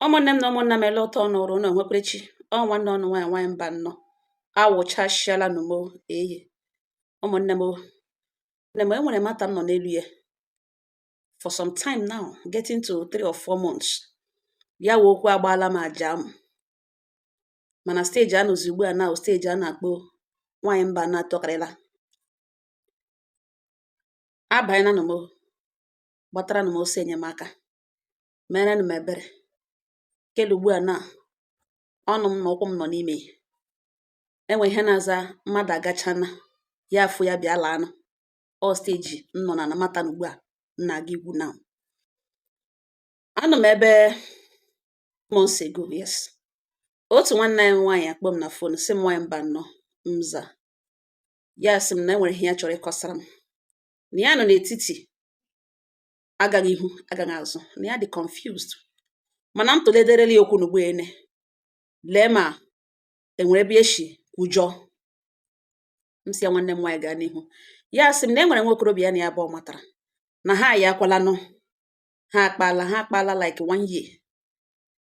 ụmụnne m na ụmụnna m ele otu ọnụ rụ ọnụ enwekwere chi ọ nwanne ọnụ nwaanyị nwaanyị Mbano awụchasịala nụ m eyi ụmụnne m nne m enwere matter m nọ n'elu ya for some time now getting to three or four months ya wụ okwu agbaala m aja m mana stage a nọzi ugbu a na stage a na-akpọ nwaanyị Mbano atọkarịla abanyela nụ m gbataranụ m ọsọ enyemaka meerenụ m ebere kele ugbu a na ọnụ m na ụkwụ m nọ n'ime ya enwere ihe na-aza mmadụ agachana ya afụ ya bịa laanụ ọ stage m nọ na matter na ugbu a m na-aga ịgwa unu a number months ago yes otu nwanne anyị nwaanyị akpọ m na phone sị m nwaanyị Mbano m za ya sị m na enwere ihe ya chọrọ ịkọsara m na ya nọ n'etiti agaghị ihu agaghị azụ na ya dị confused mana m tụlederela ya okwu n'ọgbọ ene lee ma enwere ebe eshi kwujọọ m sị ya nwanne m nwaanyị gaa n'ihu ya sị m na e nwere nwa okorobịa ya na ya abụọ matara na ha ya akwalanụ ha akpala ha akpala like one year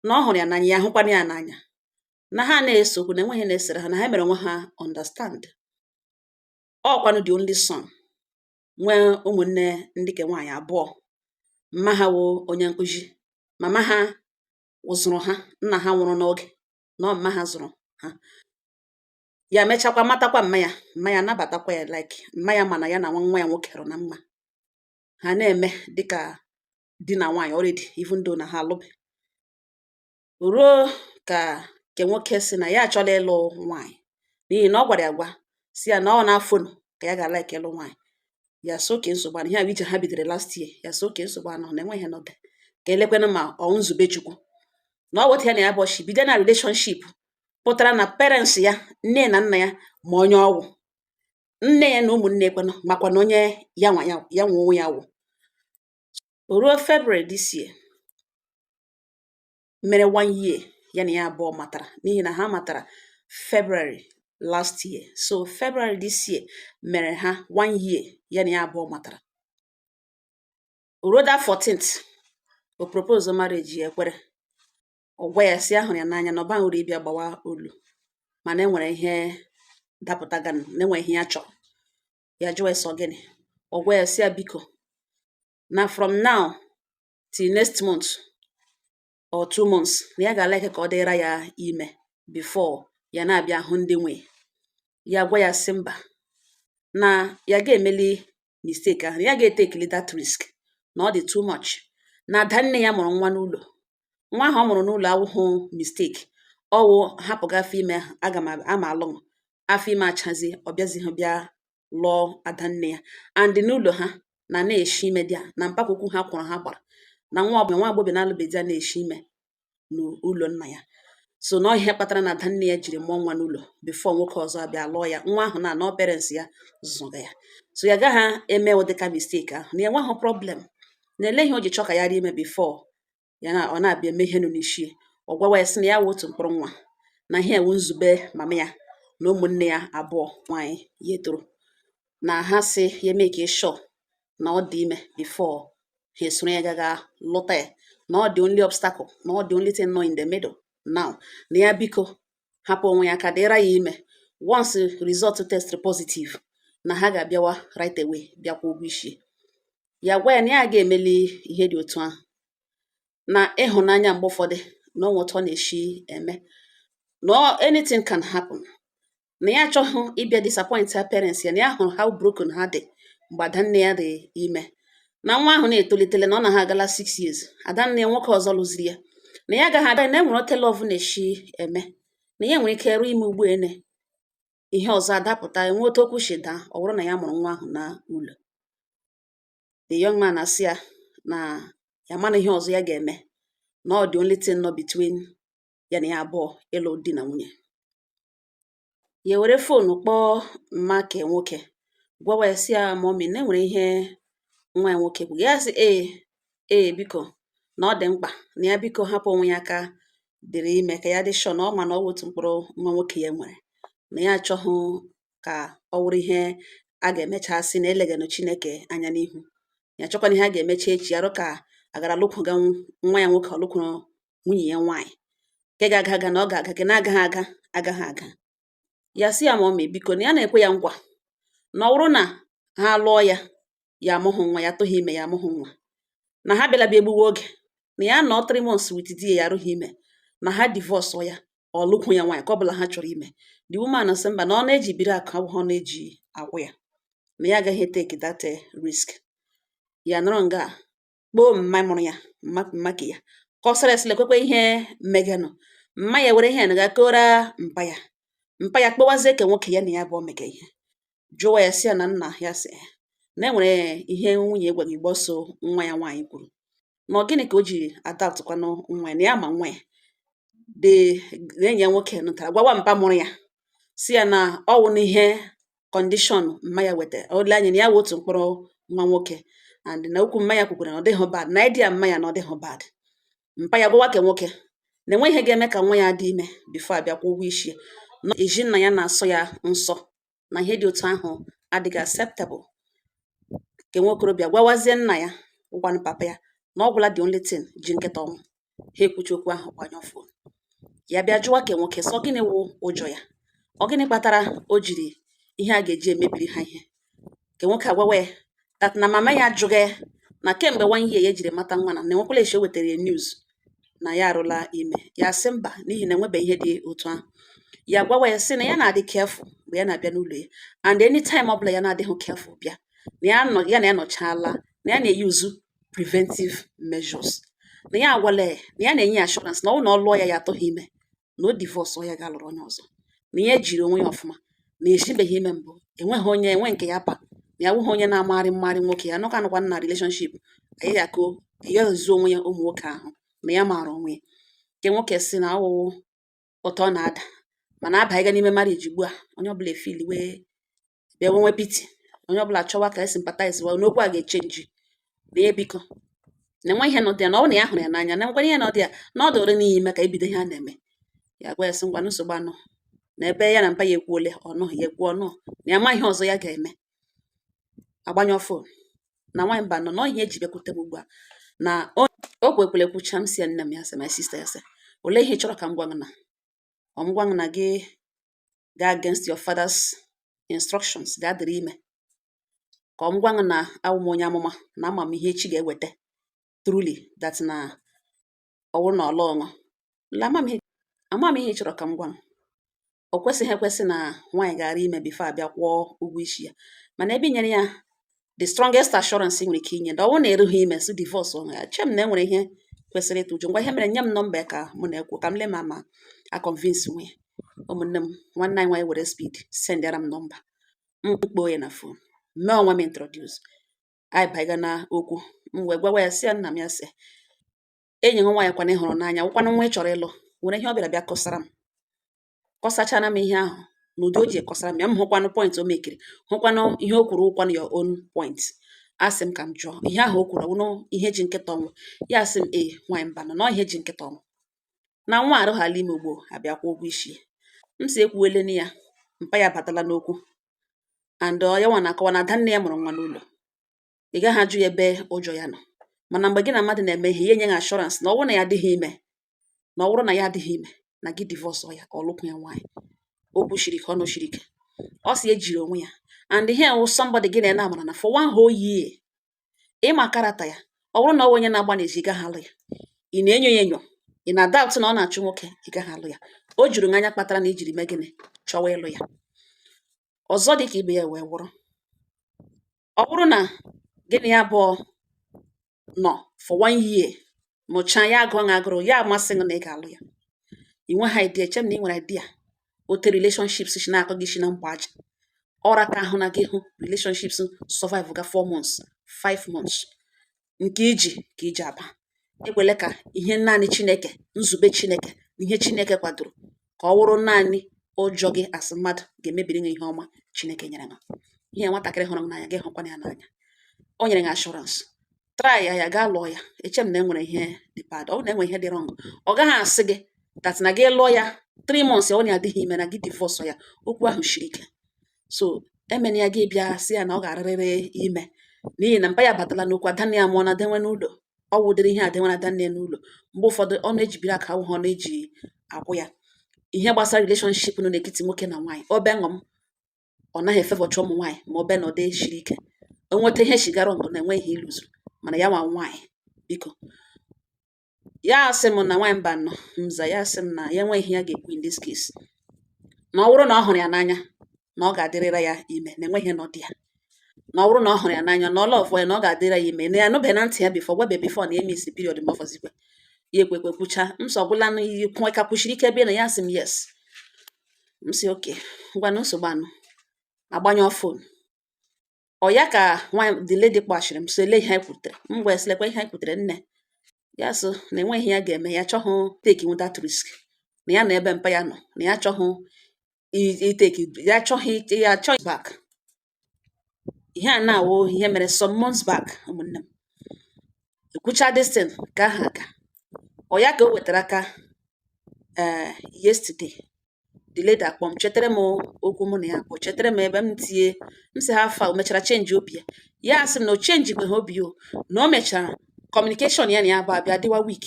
na ọ hụrụ ya n'anya ya ahụkwana ya n'anya na ha na-ese okwu na enweghị ihe na-esere ha na ha mere onwe ha understand ọkwanụ the only son nwee ụmụnne ndị ke nwaanyị abụọ mma ha wụ onye nkụzi mama ha zụrụ ha nna ha nwụrụ n'oge na mma ha zụrụ ha ya mechakwa matakwa mma ya mma ya nabatakwa ya like mma ya ma na ya na nwa ya nwoke rụ na mma ha na-eme dịka di na nwaanyị already even though na ha alụbe ruo ka nke nwoke sị na ya achọla ịlụ nwaanyị n'ihi na ọ gwara ya gwa sị ya na ọ na-afụ ka ya ga-like ịlụ nwaanyị ya sị okay nsogbu anọghị ihe ije ha bidoro last year ya sị okay nsogbu anọghị na enweghị n'oge ka elekwanụ ma ọ nzube Chukwu na ọ wụ otu a ya na ya abụọ shi bido na relationship pụtara na parents ya nne na nna ya ma onye ọ wụ nne ya na ụmụnne kwanụ makwana onye ya nwe onwe ya wụ ruo February this year mere one year ya na ya abụọ matara n'ihi na ha matara February last year so February this year mere ha one year ya na ya abụọ matara ruo that 14th ọ propose marriage ya ekwere ọ gwa ya sị ya hụrụ ya n'anya na ọ bụghịrị ịbịa gbawa olu mana e nwere ihe dapụtaganụ na enwere ihe ya chọrọ ya jụọ ya sị ọ gịnị ọ gwa ya sị ya biko na from now till next month or two months na ya ga-alike ka ọ dịra ya ime before ya na-abịa hụ ndị nwe ya gwa ya sị mba na ya ga-emeli mistake ahụ ya ga-etekili that risk na ọ dị too much na ada nne ya mụrụ nwa n'ụlọ nwa ahụ ọ mụrụ n'ụlọ awụhụ mistake ọwụ hapụga afọ ime aga m ama alụ afọ ime achazi ọ bịazighị bịa lụọ adanne ya and n'ụlọ ha na na-eshi ime dị a na mpakwukwu ha kwuru ha gbara na nwa ọbụla nwa agbọghọ na-alụbeghị di ya na-eshi ime n'ụlọ nna ya so na ihe kpatara na adanne ya jiri mụọ nwa n'ụlọ before nwoke ọzọ abịa lụọ ya nwa ahụ na ọ parents ya zụga ya so ya gaghị eme ụdịka mistake ahụ na enweghị problem na ele ihe o ji chọọ ka ya rie ime before ya na ọ na-abịa eme ihe nọ n'isi ọ gwawa ya sị na ya wụ otu mkpụrụ nwa na ihe wụ nzube mama ya na ụmụnne ya abụọ nwaanyị ya tọrọ na ha sị ya make sure na ọ dị ime before ha esoro ya gaga lụta ya na ọ the only obstacle na ọ the only thing nọ in the middle now na ya biko hapụ onwe ya ka dịra ya ime once result test positive na ha ga-abịawa right away bịa kwaa ụgwọ isi ya gwa ya na ya ga emeli ihe dị otu ahụ na ịhụnanya mgbe ụfọdụ na o nwe otu ọ na-eshi eme na anything can happen na ya achọghị ịbịa disappoint her parents ya na ya hụrụ how broken ha dị mgbe adanne ya dị ime na nwa ahụ na-etolitele na ọ na ha agala six years adanne ya nwoke ọzọ lụziri ya na ya agaghị ada na enwere oke love na-eshi eme na ya nwere ike ruo ime ugbu a ene ihe ọzọ adapụta enwe otu okwu shi daa ọ wụrụ na ya mụrụ nwa ahụ na ụlọ the young man asị ya na ya mana ihe ọzọ ya ga-eme na ọ the only thing nọ between ya na ya abụọ ịlụ di na nwunye ya were phone kpọọ mma ke nwoke gwawa ya sị ya mummy na enwere ihe nwa ya nwoke kwuga ya sị ee ee biko na ọ dị mkpa na ya biko hapụ onwe ya aka dịrị ime ka ya dị sure na ọ ma na ọ wụ otu mkpụrụ nwa nwoke ya nwere na ya achọghị ka ọ wụrụ ihe a ga-emecha sị na eleganụ Chineke anya n'ihu ya chọkwana ihe a ga-emecha echi arụ ka agara lụkwụga nwa ya nwoke ọlụkwụrụ nwunye ya nwaanyị nke ga-aga aga na ọ ga-aga nke na-agaghị aga agaghị aga ya sị ya mummy biko na ya na-ekwe ya nkwa na ọ wụrụ na ha lụọ ya ya amụghị nwa ya atụghị ime ya amụghị nwa na ha abịala bịa egbuwe oge na ya nọ three months with di ya arụghị ime na ha divorce ya ọ lụkwụ ya nwaanyị ke ọ bụla ha chọrọ ime the woman sị mba na ọnụ e ji biri akụ abụghị ọnụ e ji akwụ ya na ya agaghị eteki that risk ya nọrọ nga kpọọ mma mụrụ ya mma ke ya kọsara sị lekwekwe ihe meganụ mma ya were ihe ga kọọra mpa ya mpa ya kpọwazie ke nwoke ya na ya bụ mega ihe jụwa ya si ya na nna ya si na enwere ihe nwunye gwa ya gbasara nwa ya nwaanyị kwuru na ọ gịnị ka o ji adaptụkwanụ nwa ya na ya ma nwa ya dị na enyi ya nwoke nụtara gwawa mpa mụrụ ya si ya na ọwụ n'ihe kọndishọn mma ya wetara ole anya na ya wụ otu mkpụrụ nwa nwoke and na okwu mma ya kwukwara na ọ dịghị bad na idea mma ya na ọ dịghị bad mpa ya gwawa ke nwoke na enweghị ihe ga-eme ka nwa ya dị ime bifo abịa kwụọ ụgwọ isi na ezi nna ya na-asọ ya nsọ na ihe dị otu ahụ adịghị acceptable ke nwokorobịa gwawazie nna ya wụkwanụ papa ya na ọ gwụla the only thing ji nkịta ọnwụ ha ekwuchi okwu ahụ gbanyụọ fon ya bịa jụwa ke nwoke sị ọ gịnị wụ ụjọ ya ọ gịnị kpatara o jiri ihe a ga-eji emebiri ha ihe ke nwoke agwawa ya that na mama ya ajụghị ya na kemgbe one year ya ejiri mata nwa na na enwekwala esi o wetara ya news na ya arụla ime ya sị mba n'ihi na enwebeghị ihe dị otu ahụ ya gwawa ya sị na ya na-adị careful mgbe ya na-abịa n'ụlọ ya and anytime ọ bụla ya na-adịghị careful bịa na ya nọ ya na ya nọchaala na ya na-eyuzu preventive measures na ya agwala ya na ya na-enye ya assurance na ọ wụ na ọ lụọ ya ya atụghị ime na o divorce ya gaa lụrụ onye ọzọ na ya ejiri onwe ya ọfụma na esibeghị ime mbụ enweghị onye enwe nke ya pa na ya wụghị onye na-amagharị mmarị nwoke ya nọka anụkwa na relationship anyị ya ko ya zuo onwe ya ụmụ nwoke ahụ na ya maara onwe ya ke nwoke sị na ọ wụ otu ọ na-ada mana a baga n'ime marriage ugbu a onye ọbụla efiliwe bịa nwewe pity onye ọbụla chọwa ka e sympathize wa n'okwu a ga-echenji na ya biko na enwe ihe nọdị ya na ọ na ya hụrụ ya n'anya na nkwanye ihe nọdị ya na ọ dịrị n'ihi ime ka ebido ihe a na-eme ya gwa ya sị ngwa nsogbu anọ na ebe ya na mpa ya ekwuole ọnụ ya ekwu ọnụ na ya ma ihe ọzọ ya ga-eme agbanyụ fon na nwaanyị mba nọ na ihe eji bịakwute m ugbu a na o kwekwere ekwucha m si ya nne m ya sị my sister ya sị olee ihe ị chọrọ ka m gwa gị na ọ m gwa gị na gị gaa against your father's instructions gaa dịrị ime ka ọ m gwa gị na awụ m onye amụma na ama m ihe echi ga-eweta truly that na ọ wụrụ na ọla ọṅụ ama m ihe ị chọrọ ka m gwa gị o kwesịghị ekwesị na nwaanyị ga-adị ime bifo abịa kwụọ ụgwọ isi ya mana ebe i nyere ya the strongest assurance nwere ike inye na ọ bụrụ na erughị ime si divorce onwe ya eche m na enwere ihe kwesịrị ịtụ ụjọ ngwa ihe mere nye m nọmba ya ka mụ na ya kwuo ka m lee ma m ga convince nwu ya ụmụnne m nwanne anyị nwaanyị were speed sendara m nọmba m kpọọ ya na fon mee onwe m introduce anyị baa na okwu m wee gwawa ya si ya nna m ya sị enyi m nwaanyị kwanụ ị hụrụ n'anya wụkwanụ nwa ị chọrọ ịlụ nwere ihe ọ bịara bịa kọsara m kọsachara m ihe ahụ n'ụdị o ji ekọsara m ya m hụkwanụ point o mekiri hụkwanụ ihe o kwuru wụkwanụ ya own point asị m ka m jụọ ihe ahụ o kwuru ọ wụnụ ihe ji nkịta ọnwụ ya asị m ee nwaanyị mbanọ na ihe ji nkịta ọnwụ na nwa arụghala ime ugbo abịa kwụọ ụgwọ isi m sị ekwuwele na ya mpa ya batala n'okwu and ya nwa na-akọwa na ada nne ya mụrụ nwa n'ụlọ ị gaghị ajụ ya ebe ụjọ ya nọ mana mgbe gị na mmadụ na-eme ihe ya enye gị assurance na ọ bụrụ na ya adịghị ime na ọ bụrụ na ya adịghị ime na gị divorce ya ka ọ lụkwụ ya nwaanyị o kwushiri ike ọnụ shiri ike ọ si ejiri onwe ya and ihe wụ somebody gị na ya amarana for one whole year ị ma character ya ọ bụrụ na ọ wụ onye na-agba n'ezi ị gaghị alụ ya ị na-enyo ya enyo ị na-doubt na ọ na-achụ nwoke ị gaghị alụ ya o juru gị anya kpatara na i jiri mee gịnị chọwa ịlụ ya ọzọ dị ka ibe ya wee wụrụ ọ bụrụ na gị na ya abụọ nọ for one year mụchaa ya agụọ na agụrụ ya amasị gị na ị ga-alụ ya ị nweghị idea eche m na ị nwere idea ote relationships si na-akọ gị si na mgba aja ọra ka ahụ na gị hụ relationships survive ga 4 months 5 months nke iji ka iji aba ekwele ka ihe naanị chineke nzube chineke na ihe chineke kwadoro ka ọ wụrụ naanị ụjọ gị asị mmadụ ga-emebiri gị ihe ọma chineke nyere gị ihe nwatakịrị hụrụ m n'anya gị hụkwana ya n'anya o nyere gị assurance try ya gaa lụọ ya eche m na e nwere ihe dị bad ọ na enwe ihe dị wrong ọ gaghị asị gị that na gị lụọ ya three months ọ na-adịghị ime na gị divorce ya okwu ahụ shiri ike so emena ya gị bịa sị ya na ọ ga-arịrịrị ime n'ihi na mpa ya batala n'okwu adanne ya mụọna nwa n'ụlọ ọ wụ ụdịrị ihe adenwe na adanne ya n'ụlọ mgbe ụfọdụ ọ na-ejibiri aka awụ ha ọ na-eji akwụ ya ihe gbasara relationship nọ n'etiti nwoke na nwaanyị ọ bịa ṅụm ọ naghị efevọcha ụmụ nwaanyị ma ọ bịa na ọ dị shiri ike o nweta ihe shigara ngụ na enweghị ihe ịlụzuru mana ya nwa nwaanyị biko ya asị m na nwaanyị mbanọ mza ya asị m na ya enweghị ihe ya ga-ekwu in this case na ọ bụrụ na ọ hụrụ ya n'anya na ọ ga-adịrịra ya ime na enweghị no dị ya na ọ bụrụ na ọ hụrụ ya n'anya na ọ love ya na ọ ga-adịra ya ime na ya anụbeghị na ntị ya before gwebe before na emiss period ma ọfọzikwe ya ekwekwe kwucha m sị ọ gwụla na iyi kwụnwe ka kwushiri ike bịa na ya asị m yes m sị okay ngwanụ nsogbu anọ agbanyụọ phone ọ ya ka nwaanyị the lady kpọchiri m sị lee ihe anyị kwutere m gwa ya sị lekwa ihe anyị kwutere nne ya sị na enweghị ihe ya ga-eme ya chọghụ take that risk na ya na ebe mpa ya nọ na ya chọghụ ịtake ya chọghị ya chọghị back ihe a na-awụ ihe mere some months back ụmụnne m ekwucha this thing ka aha aga ọ ya ka o wetara aka ee eh, yesterday the lady akpọ m chetara m okwu mụ na ya abụọ chetara m ebe m tinye m sị how far o mechara change obi ya ya asị m na o changekweha obi o na o mechara communication ya na ya abụọ abịa dịwa weak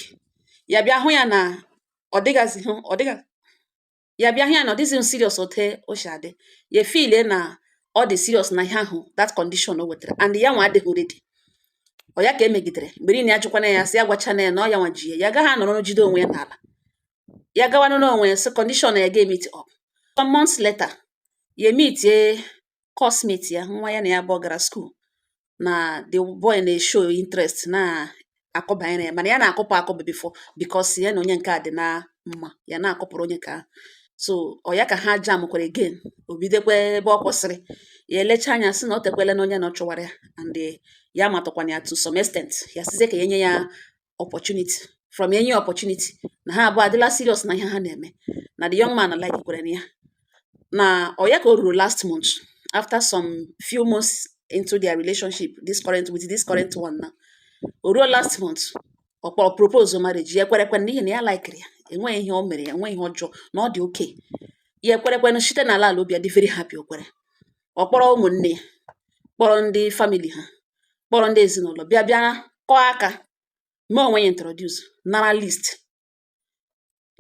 ya bịa hụ ya na ọ dịgazi hụ ọ dịga ya bịa hụ ya na ọ dịghịzi serious otu o si adị ya efeele na ọ dị serious na ihe ahụ that condition o wetara and ya nwa adịghị ready ọ ya ka emegidere mgbe niile ya jụkwana ya sị ya gwachana ya na ọ ya nwa ji ya ya agaghị anọrọ jide onwe ya n'ala ya gawanụ n'onwe ya sị condition ya ga-emeet up some months later ya emeetie coursemate ya nwa ya na ya abụọ gara school na the boy na-eshow interest na akụ banyere ya mana ya na-akụpụ akụpụ before because ya na onye nke a dị na mma ya na-akụpụrụ onye ka so ọ ya ka ha jamkwere again o bidokwa ebe ọ kwụsịrị ya elecha anya sị na o tekwele na onye na ọ chụwara ya and ya matụkwana ya to some extent ya sizie ka ya nye ya opportunity from enye opportunity na ha abụọ adịla serious na ihe ha na-eme na the young man likekwere na ya na ọ ya ka o ruru last month after some few months into their relationship this current with this current one na o ruo last month ọ kpọrọ propose marriage ya ekwerekwe n'ihi na ya likere ya enweghị ihe o mere ya enweghị ihe ọjọọ na ọ dị okay ya ekwerekwe site n'ala ala obi ya dị very happy o kwere ọ kpọrọ ụmụnne ya kpọrọ ndị family ha kpọrọ ndị ezinụlọ bịa bịa kụọ aka mee onwe ya introduce nara list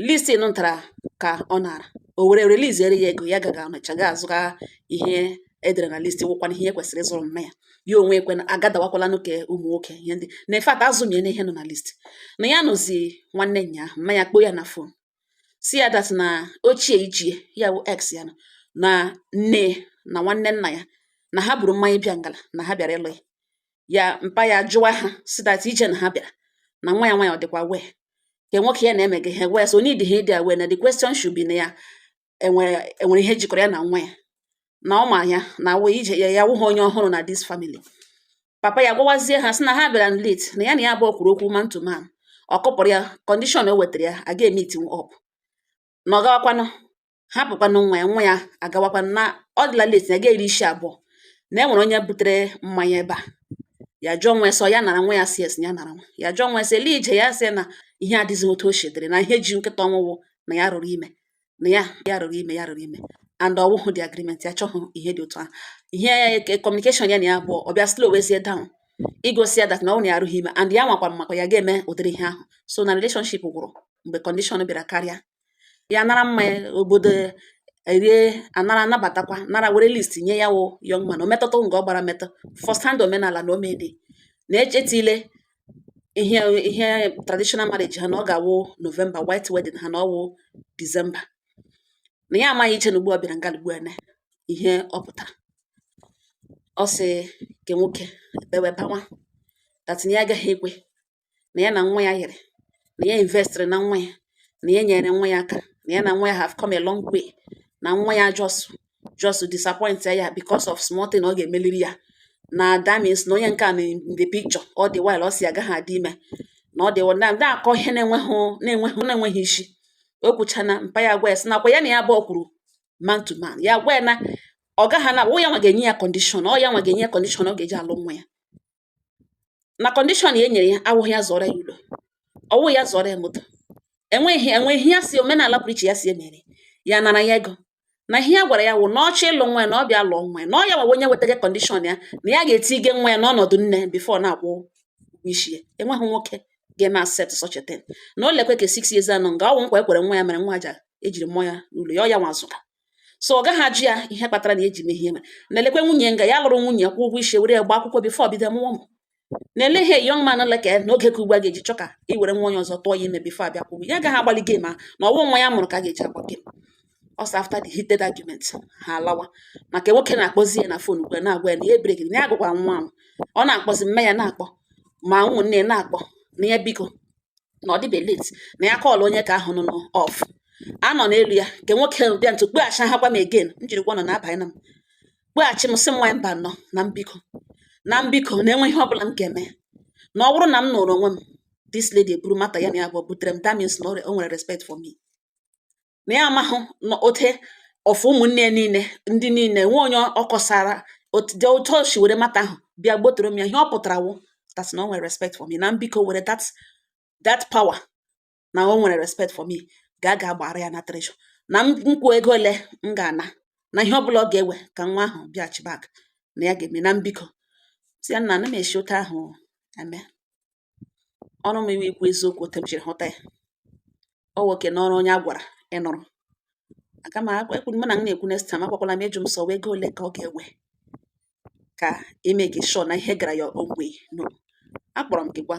list nụ ntara ka ọ nara o were releasere ya ego ya gaga ọnịcha ga azụga ihe edere na list wụkwana ihe kwesịrị ịzụrụ mma ya ya onwe ekwe na agadawakwala n'oke ụmụ nwoke ihe ndị na in fact azụmie na ihe nọ na list na ya nọzi nwanne ya mma ya kpọọ ya na phone sị ya that na ochie ichie ya bụ ex ya na nne na nwanne nna ya na ha buru mmanya bịa ngala na ha bịara ịlụ ya ya mpa ya jụwa ha sị that ije na ha bịara na nwa ya nwa ya ọ dịkwa aware nke nwoke ya na-eme gị ihe wee so need ha ịdị aware na the question should be na ya enwere enwere ihe jikọrọ ya na nwa ya na ọ ma ya na wụ ije ya ya wụghị onye ọhụrụ na this family papa ya gwawazie ha sị na ha bịara late na ya na ya abụọ kwuru okwu man to man ọ kọpụrụ ya condition o wetara ya aga emeet up na ọ gawakwanụ hapụkwanụ nwa ya nwa ya agawakwanụ na ọ dịla late na ya ga-eri isi abụọ na e nwere onye butere mmanya ebe a ya jụọ nwa ya sị ọ ya nara mmanya si esi ya nara mmanya jụọ nwa ya sị ele ije ya sị na ihe adịghị otu o si dịrị na ihe ji nkịta ọnwụ wụ na ya rụrụ ime na ya ya rụrụ ime ya rụrụ ime and ọ wụhụ the agreement ya chọhụ ihe dị otu ahụ ihe ya communication ya na ya abụọ bịa slowwezie down igosi ya that na ọ na ya arụghị ime and ya nwakwa makwa ya ga-eme ụdịrị ihe ahụ so na relationship gwụrụ mgbe condition bịara karịa ya nara mmanya obodo erie anara anabatakwa nara were list nye ya wụ young man o metụta nga ọ gbara metụ first hand omenala na omedị na-echetile ihe ihe traditional marriage ha na ọ ga-awụ November white wedding ha na ọwụ December na ya amaghị iche na ugbu ọ bịara nga ugbu a na ihe ọ pụtara ọ sị nke nwoke ebewe bawa that na ya agaghị ekwe na ya na nwa ya yiri na ya investịrị na nwa ya na ya nyere nwa ya aka na ya na nwa ya have come a long way na nwa ya just just disappoint ya because of small thing ọ ga-emeliri ya na that means na onye nke a in the picture all the while ọ sị agaghị adị ime na ọ dị na ndị akọ ihe na-enweghị na-enweghị na-enweghị isi o kwuchana mpa ya gwa ya sị nakwa ya na ya abụọ kwuru man to man ya gwa ya na ọ gaghị na ya nwa ga-enye ya kọndishọn ọ ya nwa ga-enye ya kọndishọn ọ ga-eji alụ nwa ya na kọndishọn ya enyere ya awụghị ya zụọrọ ya ụlọ ọwụ ya zụọrọ ya moto enweghị enweghị ya si omenala pụrụ iche ya si emere ya nara ya ego na ihe ya gwara ya wụ na ọ chọọ ịlụ nwa ya na ọ bịa lụọ nwa ya na ọ ya nwa wụ onye wetaga kọndishọn ya na ya ga-etinye nwa ya n'ọnọdụ nne bifo na-akwụ ụgwọ isi ya enweghị nwoke ga-eme accept such a thing na o lekwe ka six years ọ nọ nga ọwụ nkwa ekwere nwa ya mere nwa aja ejiri mmụọ ya n'ụlọ ya ọ ya nwa zụga so ọ gaghị ajụ ya ihe kpatara na eji mehie ma na elekwe nwunye nga ya lụrụ nwunye kwụ ụgwọ isi were ya gba akwụkwọ bifo bido mụọ ụmụ na ele ihe young man like na oge ka ugbu a ga-eji chọ ka i were nwa onye ọzọ tụọ ya ime bifo abịa kwụọ ụgwọ ya agaghị agbali game a na ọwụ nwa ya mụrụ ka a ga-eji agba game a so after the heated argument ha alawa maka nwoke na-akpọzi ya na fon ugbu a na-agwa ya na ya ebere gị na ya agụkwa nwa ahụ ọ na-akpọzi mma ya na-akpọ ma ụmụnne ya na-akpọ na ya biko na ọ dịbe late na ya kọọla onye nke ahụ nọ n'ọf a nọ n'elu ya nke nwoke bịa ntụ kpọghachi ha gwa m again m jiri gwa nọ na-abanye na m kpọghachi m sị m nwa mba nọ na m biko na m biko na enwe ihe ọbụla m ga-eme na ọ bụrụ na m nọrọ onwe m this lady eburu matter ya na ya abụọ butere m that means na o nwere respect for me na ya amahụ na out of ụmụnne ya niile ndị niile nwe onye ọ kọsara otu otu o si were matter ahụ bịa gbotoro m ya ihe ọ pụtara wụ that na o nwere respect for me na m biko were that that power na o nwere respect for me ga ga gbara ya na tresọ na m kwuo ego ole m ga-ana na ihe ọbụla ọ ga-ewe ka nwa ahụ bịaghachi back na ya ga-eme na m biko m sị ya nna ana m esi otu ahụ eme o were m iwe ikwu eziokwu otu m jiri hụta ya ọ nwoke n'ọrụ onye a gwara ịnụrụ aka m ekwu m na m na-ekwu next time akpọkwala m ịjụ m sị ọ wụ ego ole ka ọ ga-ewe ka e make sure na ihe gara ya ogwe no akpọrọ m gị gwa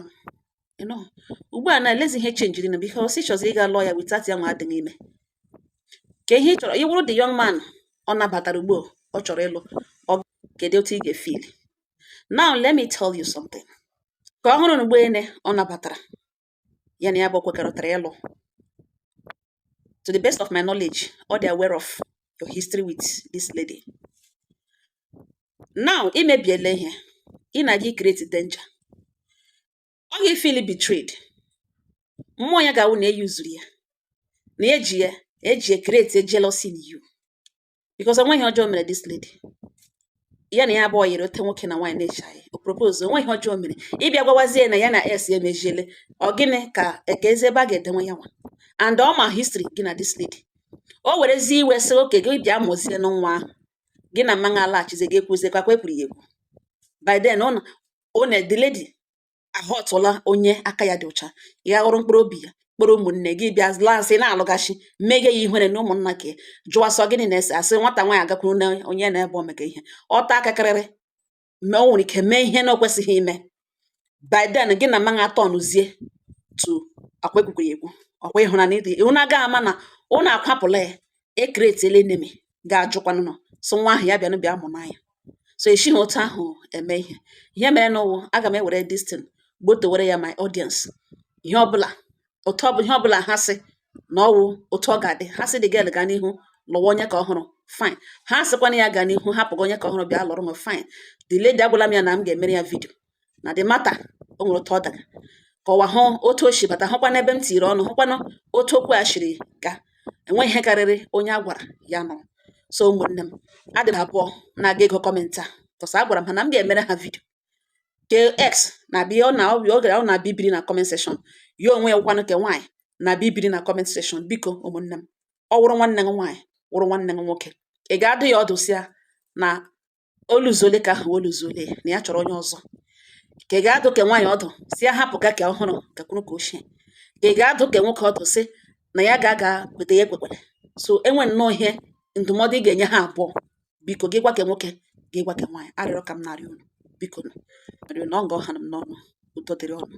ịnụ ugbu a na elezi ihe chenjiri na because ị chọzi ịga lụọ ya without ya nwa adịghị ime ka ihe ị chọrọ ị wụrụ the young man ọ nabatara ugbu ọ chọrọ ịlụ ọ kedu otu ị ga-efili now let me tell you something ka ọhụrụ na Ugbene ọ nabatara ya na ya abụọ kwekọrịtara ịlụ to the best of my knowledge ọ dị aware of your history with this lady now i mebiela ihe ị na-aga ikreti danger ọ ga-efili betrayed mmụọ ya ga-awụ na e yuzuru ya na e ji ya e ji ya create jealousy in you because o nweghị ọjọọ o mere this lady ya na ya abụọ yiri otu nwoke na nwaanyị na-echaghị o propose o nweghị ọjọọ o mere ị bịa gwawazie na ya na ex ya emeziele ọ gịnị ka eke ezi ebe a ga-edewe ya nwa and ọ ma history gị na this lady o werezie iwe sị okay gị bịa mụzie na nwa ahụ gị na man ahụ alaghachizi gị ekwuzie kwakwa ekwuru ya ekwu by then ọ na the lady ahọtala onye aka ya dị ọcha ya ghọrọ mkpụrụ obi ya kpọrọ ụmụnne gị bịa lansị na-alụghachi mmeghe ya ihere na ụmụnna ka jụwa sị ọ gịnị na-ese a sị nwata nwaanyị agakwuru na onye na-ebe omeka ihe ọta aka karịrị ma o nwere ike mee ihe na o kwesịghị ime by then gị na man a atọ nụzie tu akwa ekwukwere ekwu ọkwa ịhụnanya ndị unu ga-ama na unu akwapụla ya e kretiela enemy ga-ajụkwanụ nọ so nwa ahụ ya bịanụ bịa mụ n'anya so esighị otu ahụ eme ihe ihe mere nụ wụ aga m ewere this thing gbotowere ya my audience ihe ọbụla otu ọbụla ihe ọbụla ha sị na ọ wụ otu ọ ga-adị ha sị the girl gaa n'ihu lụwa onye ka ọhụrụ fine ha sịkwana ya gaa n'ihu hapụga onye ka ọhụrụ bịa lụrụ m fine the lady agwala m ya na m ga-emere ya video na the matter o nwere otu ọ daga ka ụwa hụ otu o si bata hụkwa n'ebe m tiri ọnụ hụkwanụ otu okwu a siri gaa enweghị ihe karịrị onye a gwara ya nụ so ụmụnne m ha dị abụọ na-aga ịgụ comment a cause agwara m ha na m ga-emere ha video ke ex na-abịa ọ na ọ gara ọ na-abịa ibiri na comment section ya onwe ya wụkwanụ ke nwaanyị na-abịa ibiri na comment section biko ụmụnne m ọ wụrụ nwanne m nwaanyị wụrụ nwanne m nwoke ị ga-adụ ya ọdụ sị ya na oluzuole ka ahụ oluzuole na ya chọrọ onye ọzọ ka ị ga-adụ ke nwaanyị ọdụ sị ya hapụ ka ka ọhụrụ gakwuru ka ochie ka ị ga-adụ ke nwoke ọdụ sị na ya ga-aga kweta ya ekwekwere so e nwee nnọọ ihe ndụmọdụ ị ga-enye ha abụọ biko gị gwa ke nwoke gị gwa ke nwaanyị arịrịọ ka m na-arịọ unu biko na ọ nga ọ ha m n'ọnụ udo dịrị unu